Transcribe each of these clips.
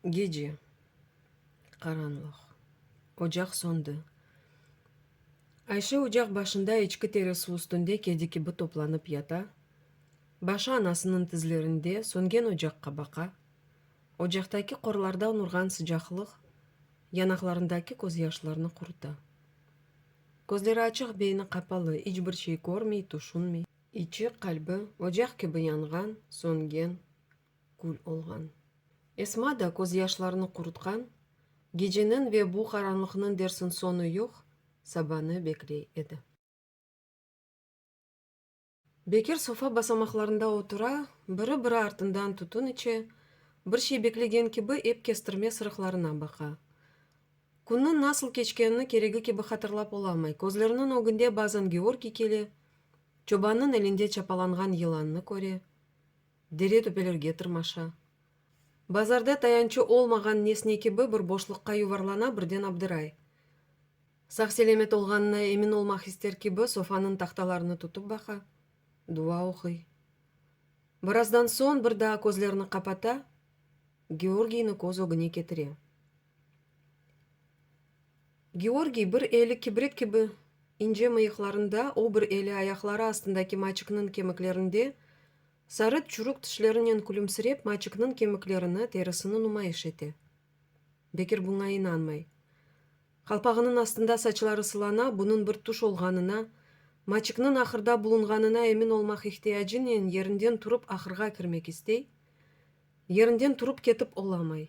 Gece. Qaranlıq. Ocaq söndü. Ayşe ocaq başında içki teresi üstünde kedi kibi toplanıp yata, başı anasınıñ tizlerinde, söngen ocaqqa baqa, ocaqtaki qorlardan urğan sıcaqlıq yanaqlarındaki közyaşlarını quruta. Közleri açıq, beyni qapalı, iç bir şey körmey, tüşünmey. İçi, qalbi ocaq kibi yanğan, söngen, kül olğan. Esma da közyaşlarını qurutqan, geceniñ ve bu qaranlıqnıñ dersiñ soñu yoq, sabanı bekley edi. Bekir sofa basamaqlarında otura, biri-biri artından tutun içe, bir şey beklegen kibi ep kestirme sırıqlarına baqa. Künniñ nasıl keçkenini keregi kibi hatırlap olamay, közleriniñ ögünde bazan Georgiy kele, çobannıñ elinde çapalanğan yılannı köre, dere-töpelerge tırmaşa. Bazarda tayançı olmağan nesne kibi bir boşluqqa yuvarlana birden Abdıray. Sağ-selemet olğanına emin olmaq ister kibi sofanıñ tahtalarını tutıp baqa, dua oquy. Birazdan soñ bir daa közlerini qapata, Georgiyni köz ögüne ketire. Georgiy bir eli kibrit kibi ince mıyıqlarında, o bir eli ayaqları astındaki maçıknıñ kemiklerinde, sarıt çürük tişlerinen külümsirep maçıknıñ kemiklerini, terisini numayış ete. Bekir buña inanmay. Qalpağınıñ astında saçları sılana, bunıñ bir tüş olğanına, maçıknıñ ahırda bulunğanına emin olmaq ihtiyacınen yerinden turıp ahırğa kirmek istey, yerinden turıp ketip olamay.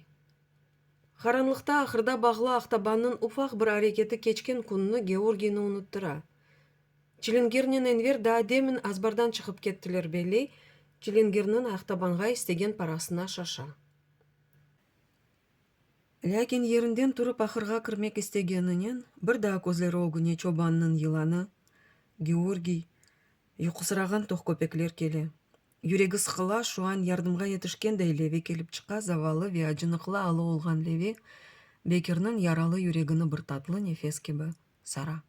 Qaranlıqta ahırda bağlı avtobannıñ ufaq bir areketi keçken künni Georgiyni unuttıra. Çilingirnen Enver daa demin azbardan çıqıp kettiler belli, Çilingirniñ avtobanğa istegen parasına şaşa. Lâkin yerinden turıp ahırğa kirmek istegeninen, bir daa közleri ögüne çobannıñ yılanı, Georgiy, yuqusırağan toq köpekler kele. Yüregi sıqıla, şu an yardımğa yetişkenday Leve kelip çıqa, zavallı ve acınıqlı alı olğan Leve Bekirniñ yaralı yüregini bir tatlı nefes kibi sara.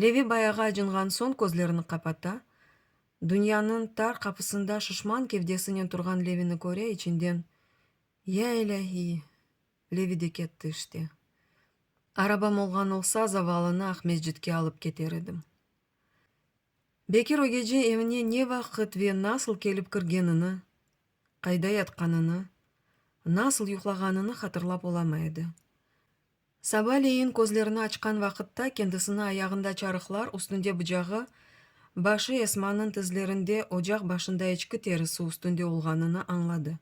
Levi bayağı acınğan soñ közlerini qapata. Dünyanıñ tar qapısında şişman kevdesinen turğan Levini köre, içinden, Ya ilâhiy! Levi de ketti işte. Arabam olğan olsa, zavallını Aqmescitke alıp keter edim. Bekir o gece evine ne vaqıt ve nasıl kelip kirgenini, qayda yatqanını, nasıl yuqlağanını hatırlap olamay edi. Sabaleyin közlerini açqan vaqıtta kendisini ayağında çarıqlar, üstünde bıcağı, başı Esmannıñ tizlerinde, ocaq başında eçki terisi üstünde olğanını añladı.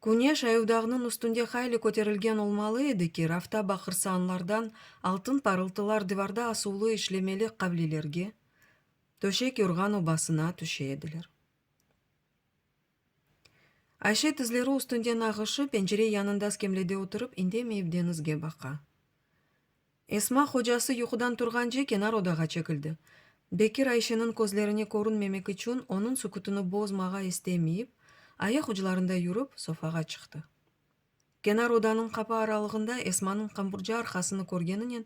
Küneş ayuvdağnıñ üstünde hayli köterilgen olmalı edi ki, rafta baqırsaanlardan altın parıltılar divarda asuvlı işlemeli qavlilerge, töşek-yorğan obasına tüşe ediler. Ayşe tizleri üstünde nağışı, pencere yanında skemlede oturıp, indemeyip deñizge baqa. Esma hocası yuqudan turğance kenar odağa çekildi. Bekir Ayşeniñ közlerine körünmemek içün onıñ sükütini bozmağa istemeyip, ayaq uclarında yürip, sofağa çıqtı. Kenar odanıñ qapı aralığında Esmanıñ qamburca arqasını körgeninen,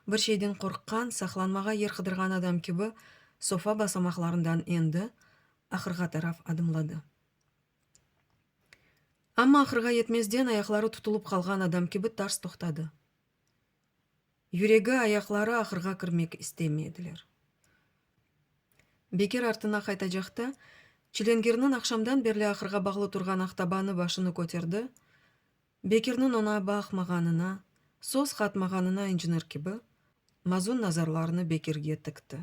bir şeyden qorqqan, saqlanmağa yer qıdırğan adam kibi, sofa basamaqlarından endi, ahırğa taraf adımladı. Amma ahırğa yetmezden ayaqları tutulıp qalğan adam kibi tars toqtadı. Yüregi, ayaqları ahırğa kirmek istemey ediler. Bekir artına qaytacaqta, Çilengirniñ aqşamdan berli ahırğa bağlı turğan ahtabanı başını köterdi, Bekirniñ oña baqmağanına, soz qatmağanına incinir kibi, mazun nazarlarını Bekirge tikti.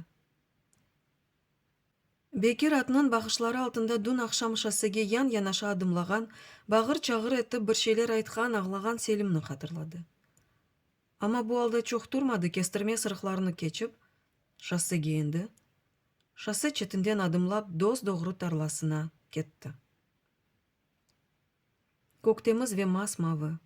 Bekir atnıñ baqışları altında dün aqşam şossege yan-yanaşa adımlağan, bağır-çağır etip bir şeyler aytqan, ağlağan Selimni hatırladı. Amma bu alda çoq turmadı, kestirme sırıqlarını keçip, şossege endi, şosse çetinden adımlap dos-doğru tarlasına ketti. Köktemiz ve mas-mavı.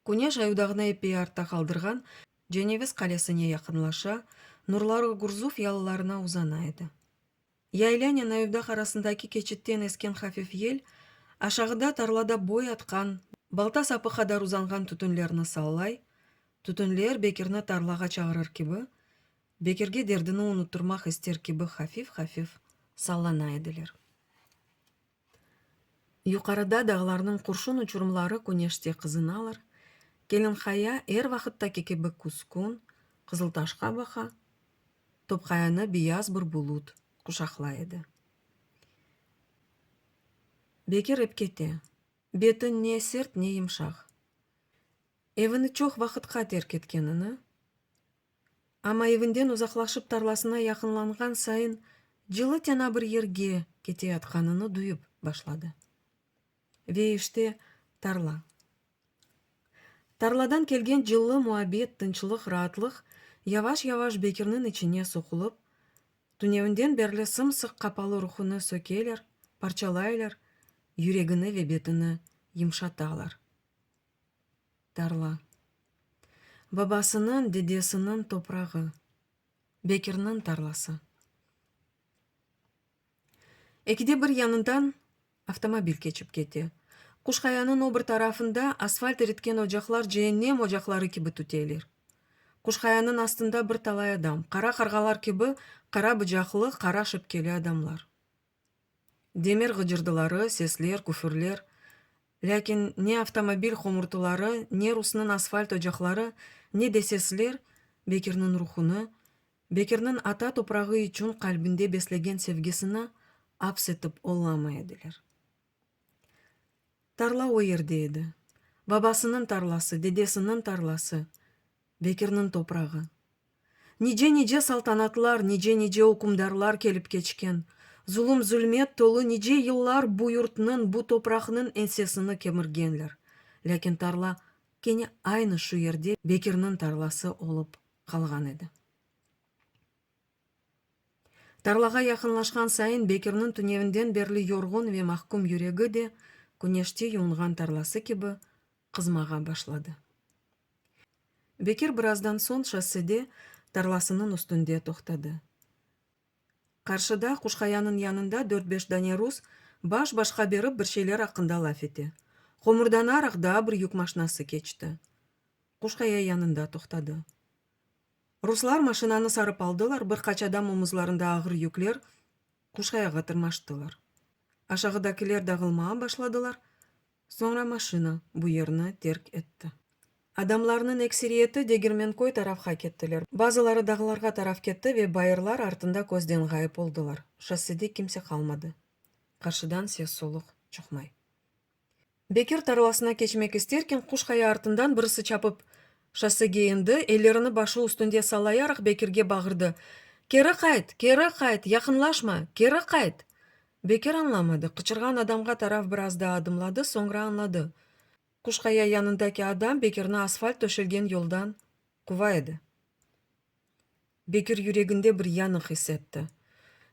Küneş Ayudağnı epey artta qaldırğan Ceneviz qalesine yaqınlaşa, nurları Gurzuf yalılarına uzana edi. Yaylânen Ayudağ arasındaki keçitten esken hafif yel, aşağıda tarlada boy atqan, balta sapı qadar uzanğan tütünlerni sallay, tütünler Bekirni tarlağa çağırır kibi, Bekirge derdini unutturmaq ister kibi hafif-hafif sallana ediler. Yuqarıda dağlarnıñ qurşun uçurımları küneşte qızınalar, Kelinqaya er vaqıttaki kibi küskün, Qızıltaşqa baqa, Topqayanı biyaz bir bulut quşaqlay edi. Bekir ep kete. Beti ne sert, ne yımşaq. Evini çoq vaqıtqa terk etkenini, Amma evinden uzaqlaşıp tarlasına yaqınlanğan sayın cılı tena bir yerge keteyatqanını duyıp başladı. Ve işte tarla. Tarladan kelgen cılı muabbet, tınçlıq, raatlıq yavaş-yavaş Bekirniñ içine soqulıp, tünevinden berli sımsıq qapalı ruhunı sökeler, parçalaylar, yüregini ve betini yımşatalar. Tarla. Babasınıñ, dedesiniñ toprağı. Bekirniñ tarlası. Ekide bir yanından avtomobil keçip kete. Quşqayanıñ o bir tarafında asfalt eritken ocaqlar ceennem ocaqları kibi tüteler. Quşqayanıñ astında bir talay adam, qara qarğalar kibi qara bıcaqlı, qara şapkeli adamlar. Demir ğıcırdıları, sesler, küfürler. Lâkin ne avtomobil homurtıları, ne Rusnıñ asfalt ocaqları, ne de sesler Bekirniñ ruhunı, Bekirniñ ata toprağı içün qalbinde beslegen sevgisini aps etip ollamay ediler. Tarla o yerde edi. Babasınıñ tarlası, dedesiniñ tarlası, Bekirniñ toprağı. Nice-nice saltanatlar, nice-nice ükümdarlar kelip keçken. Zulum-zulmet tolu nice yıllar bu yurtnıñ, bu topraqnıñ ensesini kemirgenler. Lâkin tarla kene aynı şu yerde Bekirniñ tarlası olıp qalğan edi. Tarlağa yaqınlaşqan sayın Bekirniñ tünevinden berli yorğun ve mahküm yüregi de küneşte yuunğan tarlası kibi qızmağa başladı. Bekir birazdan soñ şossede tarlasınıñ üstünde toqtadı. Qarşıda, Quşqayanıñ yanında dört-beş dane rus baş-başqa berip bir şeyler aqqında laf ete. Homurdanaraq daa bir yük maşnası keçti. Quşqaya yanında toqtadı. Ruslar maşinanı sarıp aldılar, bir qaç adam omuzlarında ağır yükler Quşqayağa tırmaştılar. Aşağıdakiler dağılmağa başladılar. Soñra maşina bu yerni terk etti. Adamlarnıñ ekseriyeti Degirmenköy tarafqa kettiler. Bazıları dağlarğa taraf ketti ve bayırlar artında közden ğayıp oldılar. Şossede kimse qalmadı. Qarşıdan ses-soluq çıqmay. Bekir tarlasına keçmek isterken, quş qaya artından birisi çapıp şossege endi, ellerini başı üstünde sallayaraq Bekirge bağırdı, Keri qayt! Keri qayt! Yaqınlaşma! Keri qayt! Bekir añlamadı. Qıçırğan adamğa taraf biraz daa adımladı, soñra añladı. Quşqaya yanındaki adam Bekirni asfalt töşelgen yoldan quva edi. Bekir yüreginde bir yanıq is etti.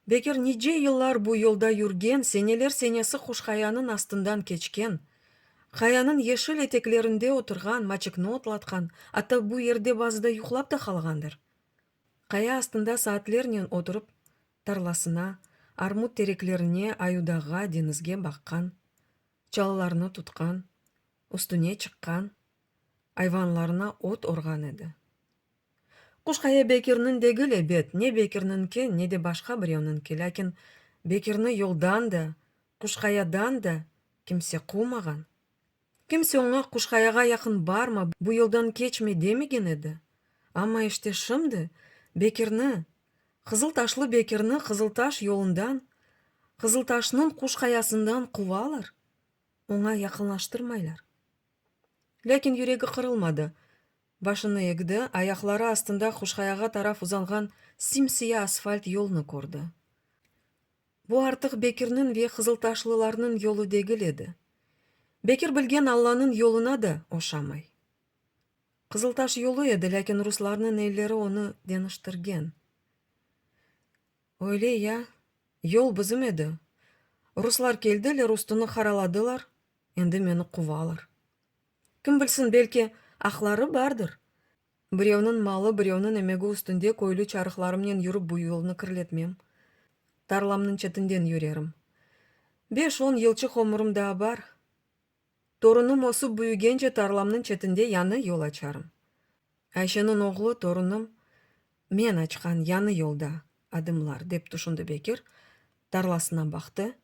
Bekir nice yıllar bu yolda yürgen, seneler senesi quşqayanıñ astından keçken, qayanıñ yeşil eteklerinde oturğan, maçekni otlatqan, atta bu yerde bazıda yuqlap da qalğandır. Qaya astında saatlernen oturıp, tarlasına, armut tereklerine, ayudağğa, deñizge baqqan, çalalarnı tutqan, üstüne çıqqan, ayvanlarına ot orğan edi. Quşqaya Bekirniñ degil, ebet, ne Bekirniñki, ne de başqa birevniñki, lâkin Bekirni yoldan da, Quşqayadan da kimse quvmağan, Kimse oña Quşqayağa yaqın barma, bu yoldan keçme demegen edi. Amma işte şimdi Bekirni, qızıltaşlı Bekirni Qızıltaş yolundan, Qızıltaşnıñ Quşqayasından quvalar, oña yaqınlaştırmaylar. Lâkin yüregi qırılmadı, başını egdi, ayaqları astında Quşqayağa taraf uzanğan sim-siya asfalt yolnı kördi. Bu artıq Bekirniñ ve qızıltaşlılarnıñ yolu degil edi. Bekir bilgen Allanıñ yoluna da oşamay. Qızıltaş yolu edi, lâkin ruslarnıñ elleri onı deñiştirgen. Öyle ya, yol bizim edi, ruslar keldiler, üstüni qaraladılar, endi meni quvalar. Kim bilsin, belki, aqları bardır, Birevniñ malı, birevniñ emegi üstünde köylü çarıqlarımnen yürip bu yolnı kirletmem. Tarlamnıñ çetinden yürerim. Beş-on yılçıq ömürim daa bar. Torunım ösip büyügence tarlamnıñ çetinde yañı yol açarım. Ayşeniñ oğlu, torunım, men açqan yañı yolda adımlar, dep tüşündi Bekir, tarlasına baqtı,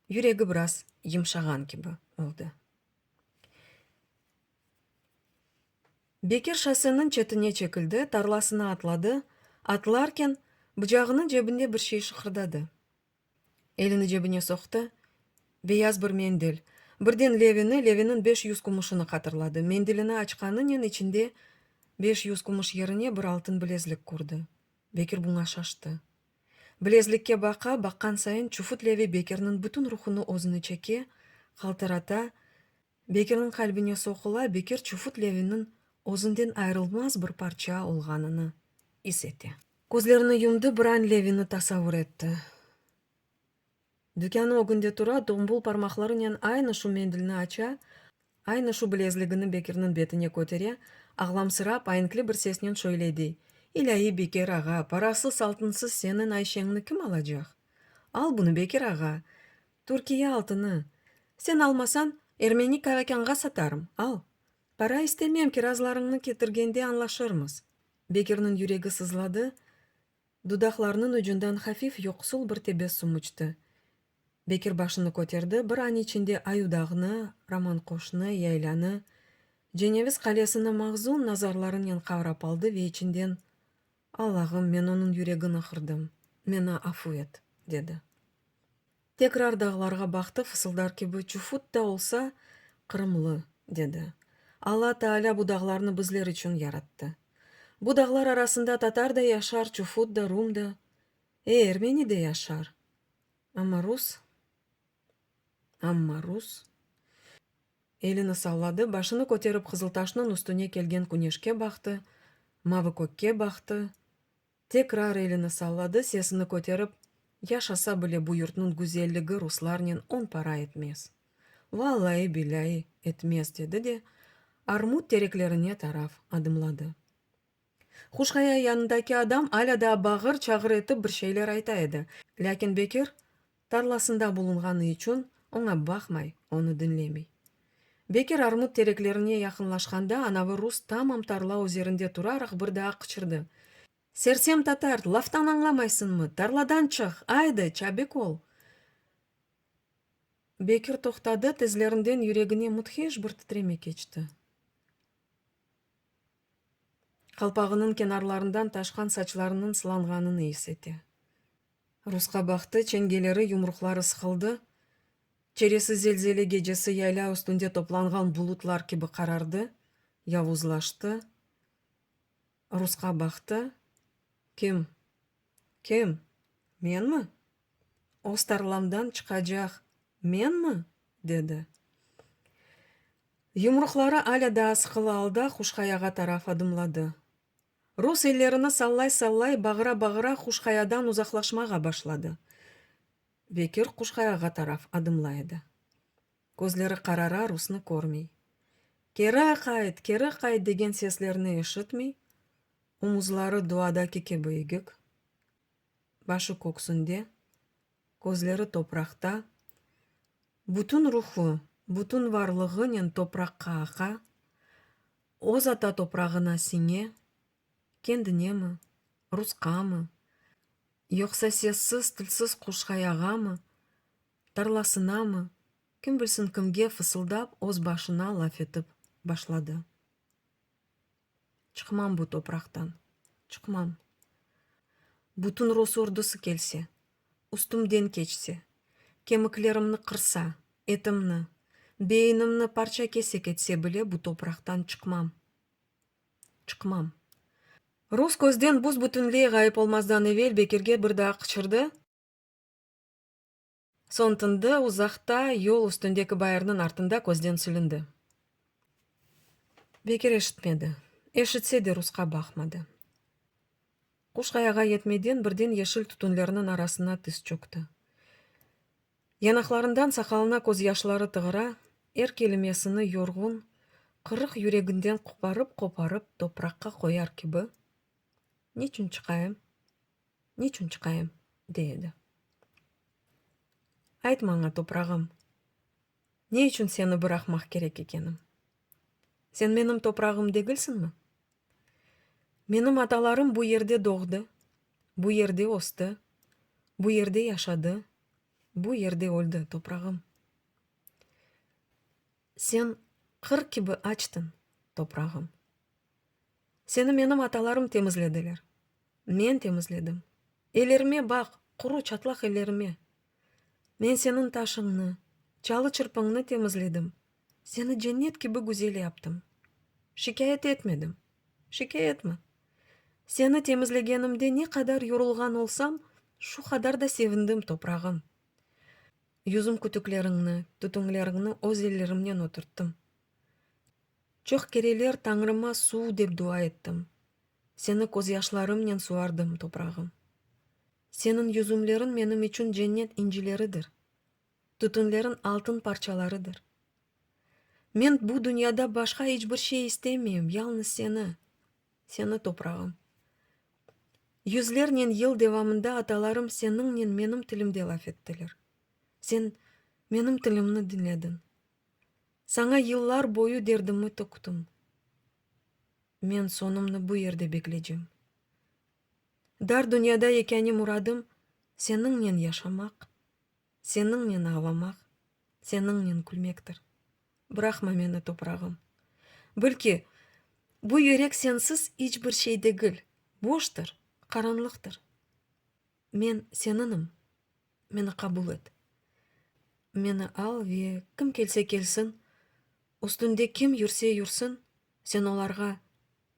yüregi biraz yımşağan kibi oldı. Bekir şossenniñ çetine çekildi, tarlasına atladı, atlarken, bıcağınıñ cebinde bir şey şıqırdadı. Elini cebine soqtı, beyaz bir mendil. Birden Levini, Leviniñ beş yüz kumuşını hatırladı. Mendilini açqanınen, içinde beş yüz kumuş yerine bir altın bilezlik kördi. Bekir buña şaştı. Bilezlikke baqa, baqqan sayın, çufut Levi Bekirniñ bütün ruhunı özüne çeke, qaltırata, Bekirniñ qalbine soqula, Bekir çufut Leviniñ özünden ayırılmaz bir parça olğanını is ete. Közlerini yumdı, bir an Levini tasavur etti. Dükânı ögünde tura, tombul parmaqlarınen aynı şu mendilni aça, aynı şu bilezligini Bekirniñ betine kötere, ağlamsırap, aenkli bir sesnen şöyle dey, İlâhi, Bekir ağa, parasız-altınsız seniñ Ayşeñni kim alacaq? Al bunı, Bekir ağa! Türkiye altını! Sen almasan, ermeni Kavakânğa satarım, al! Para istemem, kirazlarıñnı ketirgende añlaşırmız. Bekirniñ yüregi sızladı, dudaqlarınıñ ucundan hafif yoqsul bir tebessüm uçtı. Bekir başını köterdi, bir an içinde Ayudağnı, Ramanqoşnı, Yaylânı, Ceneviz qalesini mahzun nazarlarınen qavrap aldı ve içinden, Allahım, men onıñ yüregini qırdım, mena afu et, dedi. Tekrar dağlarğa baqtı, fısıldar kibi, Çufut da olsa, qırımlı, dedi. Alla Taalâ bu dağlarnı bizler içün yarattı. Bu dağlar arasında tatar da yaşar, çufut da, rum da, e, ermeni de yaşar. Amma rus? Amma rus. Elini salladı, başını köterip Qızıltaşnıñ üstüne kelgen küneşke baqtı, mavı kökke baqtı, tekrar elini salladı, sesini köterip, Yaşasa bile bu yurtnıñ güzelligi ruslarnen on para etmez. Vallai, billai, etmez, dedi de, armut tereklerine taraf adımladı. Huşhaya yanındaki adam alâ daa bağır-çağır etip bir şeyler ayta edi, lâkin Bekir tarlasında bulunğanı içün oña baqmay, onı diñlemey. Bekir armut tereklerine yaqınlaşqanda anavı rus tamam tarla üzerinde turaraq bir daa qıçırdı, Sersem tatar, laftan añlamaysıñmı, tarladan çıq, aydı, çabik ol! Bekir toqtadı, tizlerinden yüregine mütheş bir titreme keçti. Qalpağınıñ kenarlarından taşqan saçlarınıñ sılanğanını is ete. Rusqa baqtı, çengeleri, yumruqları sıqıldı. Çeresiz zelzele gecesi yayla üstünde toplanğan bulutlar kibi qarardı, yavuzlaştı. Rusqa baqtı. Kim? Kim? Menmi? O starlamdan çıqacaq menmi? dedi. Yumruqları alâ daa sıqılı alda Quşqayağa taraf adımladı. Rus ellerini sallay-sallay, bağıra-bağıra Quşqayadan uzaqlaşmağa başladı. Bekir Quşqayağa taraf adımlay edi. Közleri qarara Rusnı körmey. Keri qayt, keri qayt degen seslerni eşitmey, Omuzları duadaki kibi igik, başı köksünde, közleri topraqta, bütün ruhu, bütün varlığınen topraqqa aqa, öz ata toprağına siñe, kendinemi, Rusqamı, yoqsa sessiz, tilsiz quşqa yağamı, tarlasınamı, kim bilsin kimge fısıldap öz başına laf etip başladı. Çıqmam bu topraqtan, çıqmam. Bütün rus ordusı kelse, üstümden keçse, kemiklerimni qırsa, etimni, beyinimni parça-kesek etse bile bu topraqtan çıqmam. Çıqmam. Rus közden büs-bütünley ğayıp olmazdan evel Bekirge bir daa qıçırdı. Soñ tindi, uzaqta, yol üstündeki bayırnıñ artında közden silindi. Bekir eşitmedi. Eşitse de, rusqa baqmadı. Quşqayağa yetmeden, birden yeşil tütünlerniñ arasına tiz çökti. Yanaqlarından saqalına közyaşları tığıra, er kelimesini yorğun, qırıq yüreginden qoparıp-qoparıp topraqqa qoyar kibi, Niçün çıqayım? Niçün çıqayım? dey edi. Ayt maña, toprağım, ne içün seni bıraqmaq kerek ekenim? Sen menim toprağım degilsiñmi? Menim atalarım bu yerde doğdı, bu yerde östü, bu yerde yaşadı, bu yerde öldi, toprağım. Sen qır kibi açtıñ, toprağım. Seni menim atalarım temizlediler, men temizledim. Ellerime baq, quru, çatlaq ellerime. Men seniñ taşıñnı, çalı-çırpıñnı temizledim, seni cennet kibi güzel yaptım. Şikâyet etmedim. Şikâyetmi? Seni temizlegenimde ne qadar yorulğan olsam, şu qadar da sevindim, toprağım. Yüzüm kütükleriñni, tütünleriñni öz ellerimnen oturttım. Çoq kereler Tañrıma suv dep dua ettim, seni közyaşlarımnen suvardım, toprağım. Seniñ yüzümleriñ menim içün cennet incileridir, tütünleriñ altın parçalarıdır. Men bu dünyada başqa iç bir şey istemeyim, yalnız seni, seni, toprağım. Yüzlernen yıl devamında atalarım seniñnen menim tilimde laf ettiler. Sen menim tilimni diñlediñ. Saña yıllar boyu derdimni töktim. Men soñumnı bu yerde beklecem. Dar dünyada yekâne muradım seniñnen yaşamaq, Seniñnen ağlamaq, seniñnen külmektir. Bıraqma meni, toprağım. Bil ki, bu yürek sensiz iç bir şey degil, boştır, qaranlıqtır. Men seninim, meni qabul et. Meni al ve kim kelse kelsin, üstünde kim yürse yürsin, sen olarğa,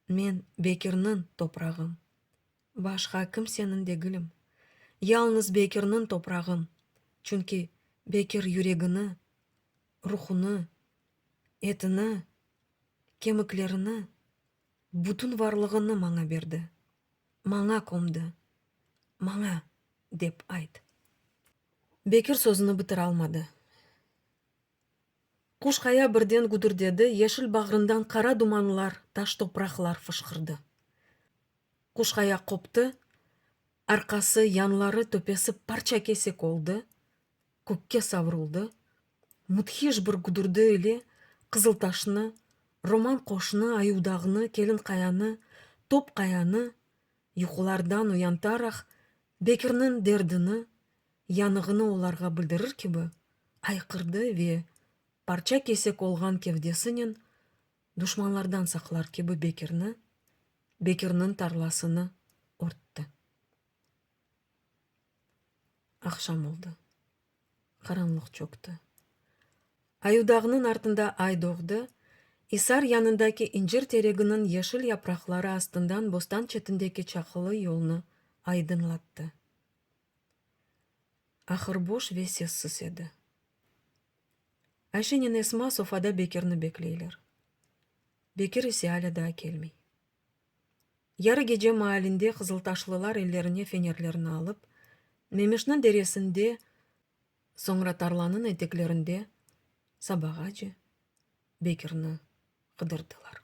Men Bekirniñ toprağım. Başqa kimseniñ degilim. Yalnız Bekirniñ toprağım. Çünki Bekir yüregini, ruhunı, etini, kemiklerini, bütün varlığını maña berdi. Maña kömdi. Maña dep ayt. Bekir sözüni bitiralmadı. Quş-qaya birden güdürdedi, yeşil bağrından qara dumanlar, taş-topraqlar fışqırdı. Quş-qaya qoptı, arqası, yanları, töpesi parça-kesek oldı, kökke savruldı, müthiş bir güdürdi ile Qızıltaşnı, Roman qoşnı, Ayudağnı, Kelinqayanı, Topqayanı yuqulardan uyantaraq, Bekirniñ derdini, yanığını olarğa bildirir kibi, ayqırdı ve parça-kesek olğan kevdesinen duşmanlardan saqlar kibi Bekirni, Bekirniñ tarlasını örtti. Aqşam oldı. Qaranlıq çökti. Ayudağnıñ artında ay doğdı, isar yanındaki incir tereginiñ yeşil yapraqları astından bostan çetindeki çaqılı yolnı aydınlattı. Ahır boş ve sessiz edi. Ayşenen Esma sofada Bekirni bekleyler. Bekir ise alâ daa kelmey. Yarı gece maalinde qızıltaşlılar ellerine fenerlerni alıp, Memişniñ deresinde, soñra tarlanıñ eteklerinde sabağace Bekirni qıdırdılar.